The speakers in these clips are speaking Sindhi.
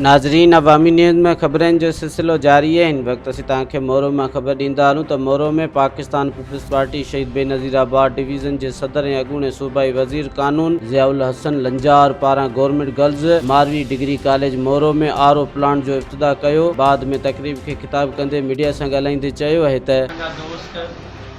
ناظرين عوامي نيوز ۾ خبرن جو سلسلو جاري آهي هن وقت اسين توهان کي مورو مان خبر ڏيندا هلون ته مورو ۾ پاڪستان پيپلز پارٽي شهيد بينظير آباد ڊويزن جي صدر ۽ اڳوڻي صوبائي وزير قانون ضياء الحسن لنجار پاران government girls Marvi degree college Moro ۾ R O plant جو افتتاح ڪيو بعد ۾ تقريب کي خطاب ڪندي ميڊيا سان ڳالهائيندي چيو اهي ته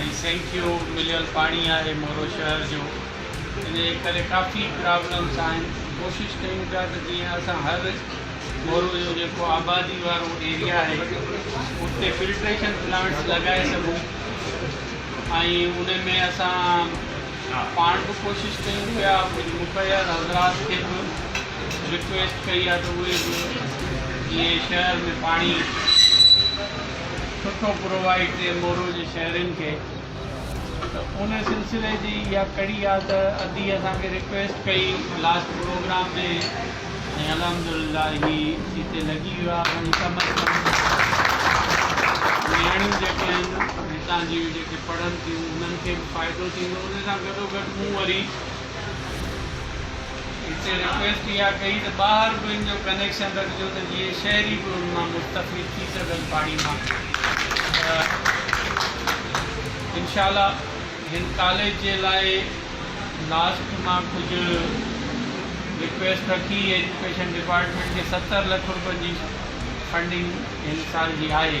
۽ سينکيو مليل پاڻي آهي مورو شهر جو ان جي ڪري ڪافي پرابلمس آهن ڪوشش ڪيون پيا ته جيئن اسان هر مورو جو جيڪو آبادي وارو ايريا آهي اتي فلٽريشن پلانٽس لڳائي سگهون ۽ ان ۾ اسان پاڻ به ڪوشش ڪيون پيا ڪجهه مخير حضرات کي به رڪويسٽ ڪئي آهي ته اهي به جيئن شهر ۾ پاڻي سٺو پرووائيڊ ڪري مورو جي شهرين کي ته ان سلسلي جي اها ڪڙي آهي ته ادي اسان کي رڪويسٽ ڪئي لاسٽ پروگرام ۾ ۽ الحمدلله هي هتي لڳي ويو آهي اسان جي ڪم از ڪم نياڻيون جيڪي آهن هتان جون جيڪي پڙهن ٿيون انهن کي به فائدو ٿيندو ان سان گڏو گڏ مون وري هتي رڪويسٽ اها ڪئي ته ٻاهر به ان جو ڪنيڪشن رکجو ته جيئن شهري به ان مان مستفيد ٿي سگهن پاڻي مان ته انشاء الله هن ڪاليج جي لاء لاسٽ مان ڪجهه رڪويسٽ رکي ايجوڪيشن ڊپارٽمينٽ کي ستر لک روپين جي فنڊنگ هن سال جي آهي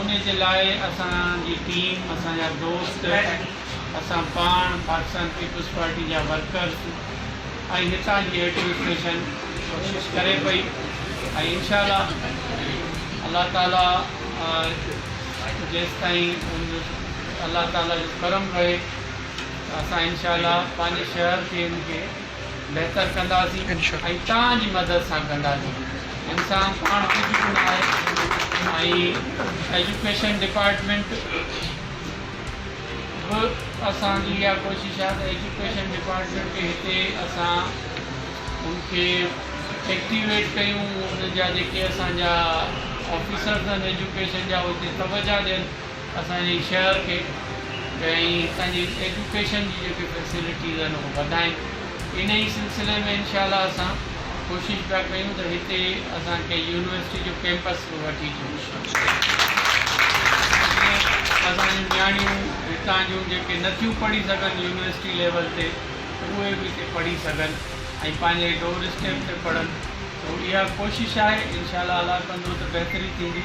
ان جي لاء اسان جي ٽيم، اسان جا دوست، اسان پاڻ پاڪستان پيپلز پارٽي جا ورڪر ۽ هتان جي ايڊمنسٽريشن ڪوشش ڪري پئي ۽ انشاء الله الله تعالي جيستائين الله تعالي جو ڪرم رهي ته اسان انشاء الله پنهنجي شهر کي ان کي بهتر ڪنداسين ۽ توهان جي مدد سان ڪنداسين انسان پاڻ ڪجهه به نه آهي ۽ ايجوڪيشن ڊپارٽمينٽ به اسان جي اها ڪوشش آهي ته ايجوڪيشن ڊپارٽمينٽ کي هتي اسان ان کي ايڪٽيويٽ ڪيون ان جا جيڪي اسان جا آفيسرز آهن ايجوڪيشن جا هتي توجه ڏين اسان جي شهر کي ۽ هتان جي ايجوڪيشن جي جيڪي فيسلٽيز آهن اهي وڌائين ان ئي سلسلي ۾ انشاء الله اسان ڪوشش پيا ڪيون ته هتي اسان کي يونيورسٽي جو ڪيمپس به وٺي اچڻ جي ڪوشش جيئن اسان جون نياڻيون هتان جون جيڪي نٿيون پڙهي سگهن يونيورسٽي ليول تي ته اهي به هتي پڙهي سگهن ۽ پنهنجي ڊور اسٽيپ تي پڙهن سو اها ڪوشش آهي انشاء الله الله ڪندو ته بهتري ٿيندي